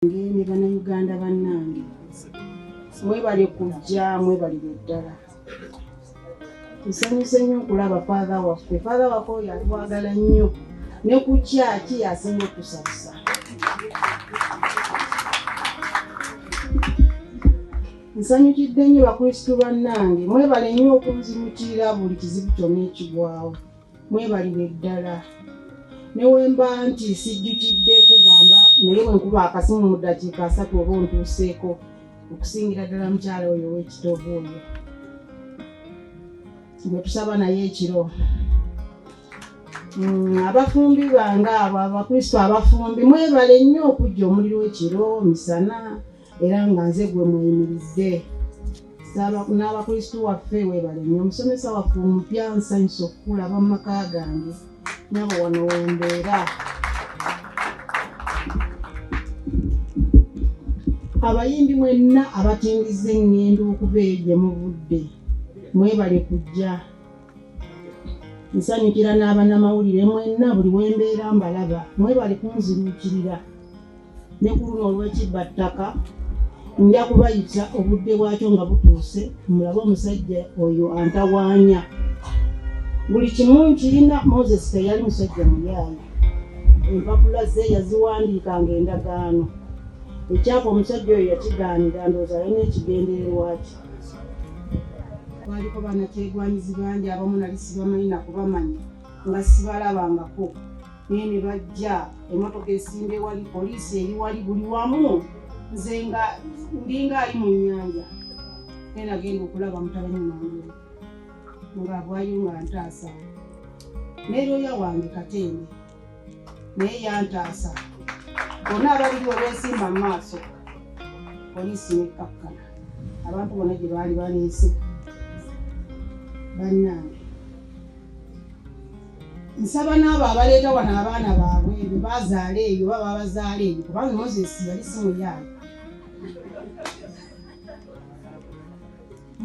ngende bana uganda banange mwebale kujja mwebalire ddala nsanyuse nnyo okulaba faatha waffe faatha waffe oyo atwagala nnyo ne ku kyaki asinga okusabisa nsanyukidde nnyo bakristu bannange mwebale nnyo okunzimukirira buli kizibu kyonna ekigwawo mwebalire ddala newemba nti sijjukidde kugamba naye wenkuba akasimu mu ddakiika asatu oba ontuuseeko okusingira ddala mukyala oyo owekitoovu oyo gwetusaba naye ekiro mm, abafumbi bange abo abakristo abafumbi mwebale nnyo okujja omuliro ekiro misana era nga nze gwe muyimiridde n'abakristu waffe webale nyo omusomesa waffe omupya nsanyusa okukulaba mu maka gange nyabo wano wembeera abayimbi mwenna abatindiza eŋŋendo okuva eyo gye muvudde mwebale kujja nsanyukira n'abanamawulire mwenna buli wembeera mbalaba mwebale kunziruukirira ne ku luno olw'ekibba ttaka nja kubayita obudde bwakyo nga butuuse mulabe omusajja oyo antawaanya buli kimu nkirina moses teyali musajja muyaayi empapula ze yaziwandiika nga endagaano ekyapa omusajja oyo yakigaanira ndoozi alina ekigendererwa ki kwaliko banakyegwanyizi bangi abamu nali sibamanyi nakubamanya nga sibalabangako naye ne bajja emotoka esimba ewali poliisi eri wali buli wamu nze nga ndinga ali mu nyanja naye nagenda okulaba mutabani wange nga bwayo nga ntaasa naye looya wange katende naye yantaasa bonna abaliri olwesimba mu maaso poliisi nekkakkana abantu bona gye baali baleese bannange nsaba n'abo abaleeta wano abaana baabwe be bazaala eyo oba babazaala eyo kubanga moses yali si muyaayo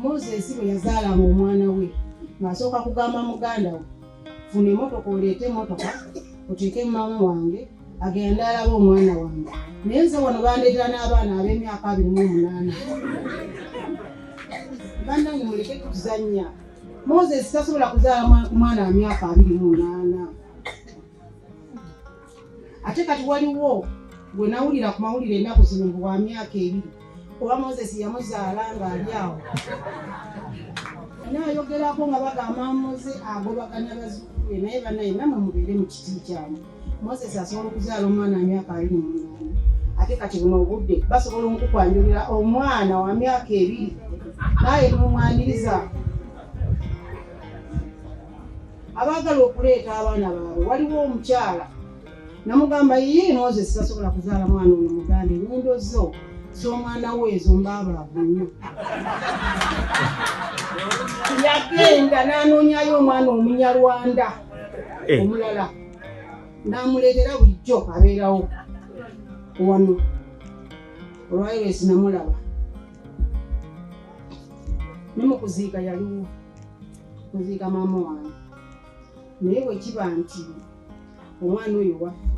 moses bwe yazaalaba omwana we ng'asooka kugamba muganda we funa emotoka oleete emotoka oteeke mumama wange agenda alaba omwana wange naye nze wano bandeetera n'abaana ab'emyaka abiri mu omunaana bannange muleke kutuzannya moses tasobola kuzaala ku mwana wa myaka abiri munaana ate kati waliwo gwe nawulira ku mawulire ennaku zino bwa myaka ebiri oba moses yamuzaala ng'ali awo nayogerako nga bagamba muze agobaganya bazukulu be naye banaye namwe mubeere mu kiti kyamu moses asobola okuzaala omwana wa myaka abiri mumunana ate kati buno obudde basobola omukukwanjulira omwana wa myaka ebiri naaye nomumwaniriza abaagala okuleeta abaana baabwe waliwo omukyala namugamba ye moses tasobola kuzaala mwana ono muganda enyindo zo z'omwana we ezo mbaabaavu nnyo yagenda n'anoonyayo omwana omunyarwanda eh. omulala namuleetera bulijjo abeerawo wano olwaliro esinamulaba ne mu kuziika yaliwo kuziika maama wange naye bwe kiba nti omwana oyo waffe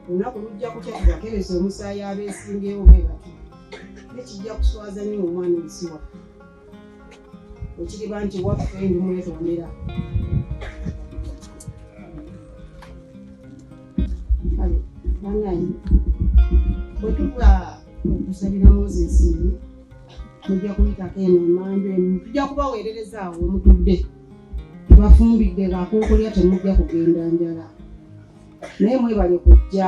olunaku lujja kutya tubakereza omusaayi abeesimbyewo bwe bati nekijja kuswaza nyo omwana ensi waffe ekiriba nti waffe ndi mwetondera kale banayi bwe tuva okusabira moses mujja kuyitako eno emanda emu tujja kubaweerereza awo omutudde tubafumbidde ngaakokolya temujja kugenda njala naye mwebale kujja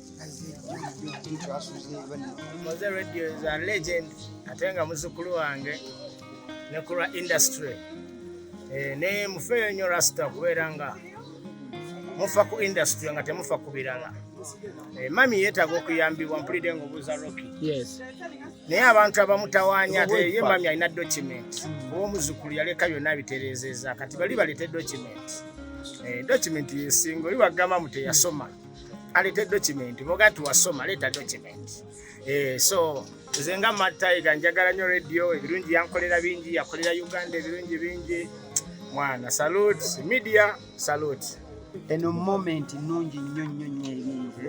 Moze Radio is a legend ate nga muzukulu wange ne ku lwa industry eh, naye mufeeyo nnyo rasita kubeera nga mufa ku industry nga temufa ku birala eh, mami yeetaaga okuyambibwa mpulidde nga obuuza roki naye abantu abamutawaanya ate ye mami alina document oba omuzukulu yaleka byonna bitereezeza kati bali balete document eh, document yesinga oli wagamba mu teyasoma mm. alete document boga nti wasoma leta document eh, so nze nga mataiga njagala nyo radio ebirungi yankolera bingi yakolera uganda ebirungi bingi mwana salute media salute eno moment nungi nnyo nnyo nnyo ebingi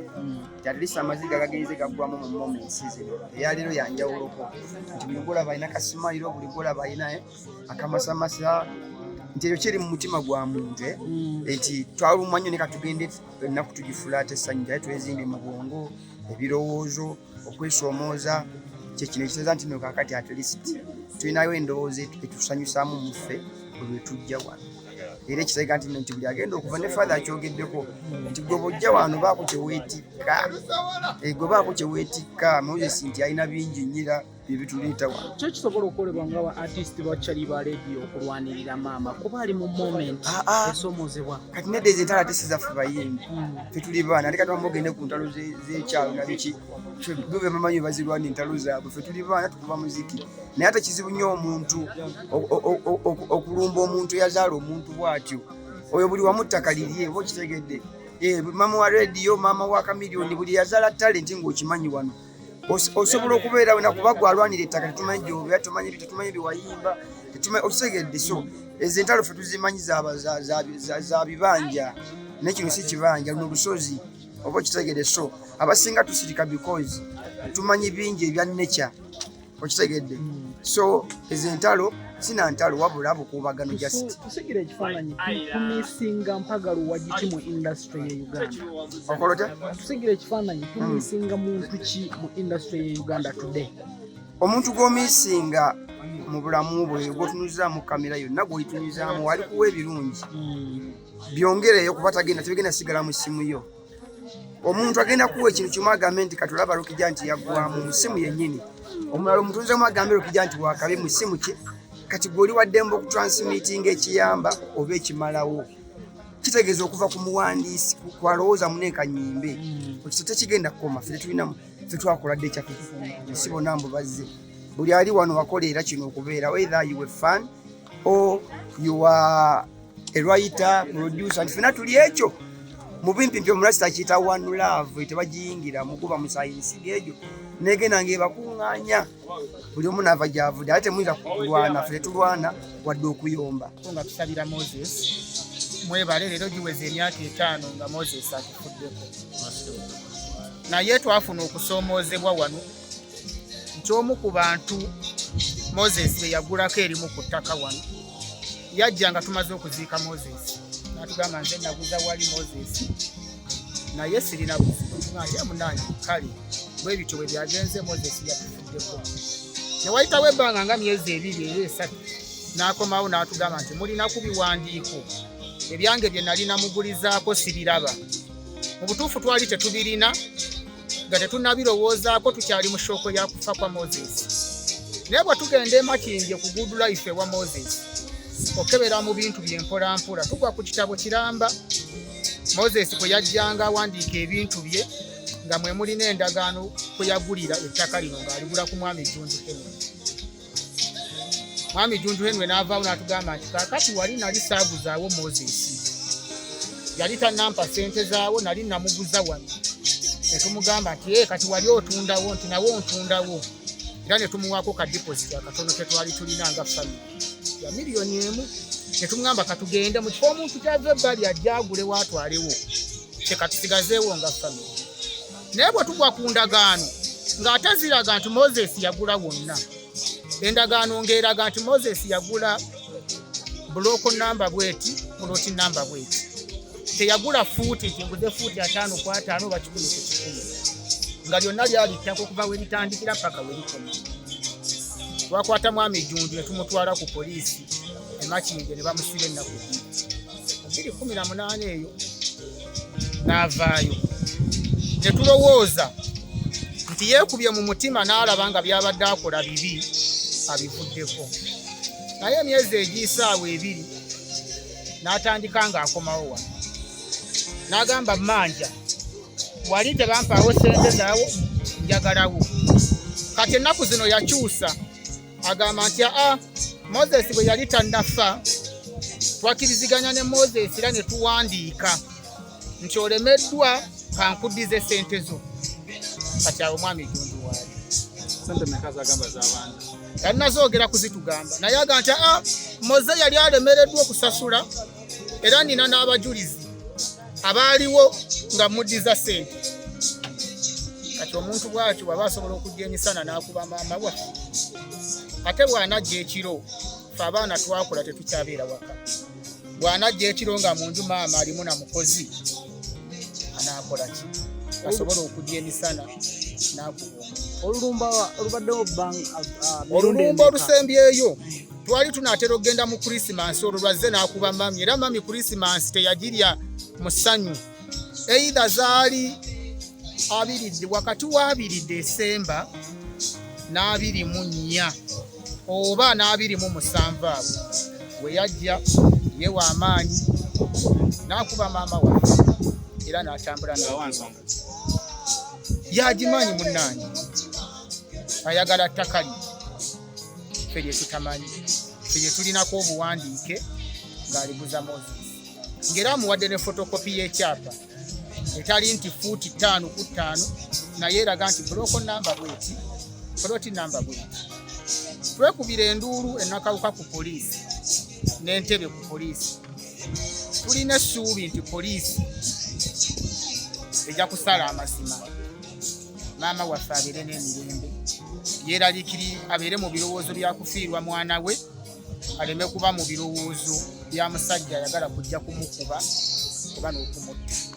kyatulisa mm. amaziga gagenze gaggwamu mu moments zino eyaleero yanjawuloko nti buli golaba alina kasimayiro buli golaba alina eh, akamasamasa nti ekyo kiri mu mutima gwa muntu eh, mm. nti twalumwa nnyo ne katugende ennaku tugifulaata essanyu naye twezimbye mu bwongo ebirowoozo okwesoomooza kyekino ekiteeza nti nokakati at least tulinayo endowooza etusanyusaamu muffe olwetujja wano era ekiteega nti nti buli agenda okuva ne fathe akyogeddeko nti gwe bojja wano baako kyeweetikka eh, gwe baako kyeweetikka moses nti alina bingi nyira byebituleeta wano kyo kisobola okukolebwa nga ba artist bakyali ba radio okulwanirira maama kuba ali mu moment ah, ah. esomozebwa kati nedda ezo entalo ate sizaffe bayimbi hmm. fetuli baana ate kati bamugende ku ntalo zekyalo nabiki bube bamanyi bazirwana entalo zaabwe fetuli baana tukuba muziki naye ate kizibu nnyo omuntu okulumba omuntu eyazaala omuntu bwatyo oyo buli wamu ttaka lirye oba okitegedde eh, maama wa radio maama wa kamilioni buli yazala talenti ngaokimanyi wano osobola okubeera wena kuba gwe alwanira ettaka tetumanyi gyobera tumanyi tetumanyi byewayimba okitegedde so ezo entalo fe tuzimanyi za bibanja naye kino si kibanja luno lusozi oba okitegedde so abasinga tusirika because tumanyi bingi ebya nature okitegedde hmm. so ezo entalo sina ntalo wabula bukuubagano justitegera ekifaananyi tumisinga mpagalo wagiki mu industry ye uganda okolota tutegera ekifaananyi hmm. tumisinga muntu ki mu industry ye uganda today omuntu gwomisinga mu bulamu bwe gwotunuzamu kamera yonna gwoyitunuzamu walikuwa ebirungi hmm. byongereyo kuba tagenda tebigenda sigala mu simu yo omuntu agenda kuwa ekintu kimu agambe nti katulaba lukija nti yaggwamu mu ssimu yennyini omulala omutunzi omu agambe lukija nti wakabi mu ssimu kye kati gwoli waddemba okutransmitinga ekiyamba oba ekimalawo kitegeeza okuva ku muwandiisi kwalowooza muneeka nyimbe hmm. ekisa tekigenda kukoma fe tetulinamu fe twakola dde ekyaffe nsi bona mbu bazze buli ali wano wakoleera kino okubeera wether you were fun Oh, you are a writer, producer, and fena tuli ekyo mubimpi mpyo murasita kita one love tebajiyingira mukuba musayinsi gejo negenda ngebakunganya buli omu nava gyavude ate muyinza kulwana fe tulwana wadde okuyomba nga tusabira moses mwebale leero giweza emyaka etaano nga moses atufuddeko naye twafuna okusoomoozebwa wano nti omu ku bantu moses be yagulako erimu ku ttaka wano yajja nga tumaze okuziika moses natugamba nze naguza wali moses naye sirina buzibuye munange kale bwebityo bwe byagenze moses yatufuddeko newayitawo ebbanga nga myezi ebiri era esatu n'akomawo n'atugamba nti mulina ku biwandiiko ebyange bye nali namugulizaako sibiraba mu butuufu twali tetubirina nga tetunnabirowoozaako tukyali mu shooko ya kufa kwa moses naye bwe tugenda emakindye ku good life ewa moses okebera mu bintu byempolampola tugwa ku kitabo kiramba moses kwe yajjanga awandiika ebintu bye nga mwe mulina endagaano kwe yagulira ettaka lino ng'aligula ku mwami junju kemuni mwami junju henwe n'avaawo n'atugamba nti kakati wali nali saaguzaawo moses yali tanampa sente zaawo nali namuguza wano netumugamba nti e kati wali otundawo nti nawe ontundawo era netumuwaako ka deposit akatono ketwali tulina nga fami ya miliyoni emu netumugamba katugende mu kifo omuntu kyava ebbali ajja agule waatwalewo kyekatusigazeewo nga fami naye bwe tugwa ku ndagaano ng'ate ziraga nti moses yagula wonna endagaano ng'eraga nti moses yagula bulooko namba bweti puloti namba bweti teyagula fuuti nti nguze fuuti ataano ku ataano oba kikumi ku kikumi nga lyonna lyali ttaka okuva we litandikira paka we likoma twakwata mwami ejjunju ne tumutwala ku poliisi emakinge ne bamusiba ennaku bbiri kumi na munaana eyo n'avaayo ne tulowooza nti yeekubye mu mutima n'alaba nga by'abadde akola bibi abivuddeko naye emyezi egiyisaawa ebiri n'atandika ng'akomawo wano n'agamba mmanja wali tebampaawo sente zaawo njagalawo kati ennaku zino yakyusa agamba nti aa moses bwe yali tannafa twakiriziganya ne moses era ne tuwandiika nti olemeddwa kankudize sente zo kati awo mwami gundi waali yalinazoogera kuzitugamba naye aga nti aa moze yali alemereddwa okusasula era nina n'abajulizi abaaliwo nga muddiza sente kati omuntu bwatyo bwaba asobola okujja emisana n'akuba maama waffe ate bw'anajja ekiro fe abaana twakula tetukyabeera waka bw'anajja ekiro nga munju maama alimu na mukozi anaakola ki asobola okujja emisana n'akuba olulumba olubaddewo olulumba olusembyeyo twali tunaatera okugenda mu kurisimansi olwo lwazze n'akuba mami era mami kurisimansi teyagirya mu ssanyu eidha zaali abiridde wakati wa abiri desemba n'abiri mu nnya oba n'abiri mu musanvu abo we yajja yewa amaanyi n'akuba maama wange era n'atambula nawansonga yagimanyi munnange ayagala ttakali ffe lye tutamanyi ffe lye tulinako obuwandiike ng'aliguza moses ng'era amuwadde ne fotokopi y'ekyapa etali nti fuuti ttaano ku ttaano naye eraga nti buloko namba bweti poloti namba bweti twekubira enduulu enakawuka ku poliisi n'entebe ku poliisi tulina essuubi nti poliisi ejja kusala amazima maama waffe abeere n'emirembe yeeralikiri abeere mu birowoozo bya kufiirwa mwana we aleme kuba mu birowoozo bya musajja ayagala kujja kumukuba oba n'okumutta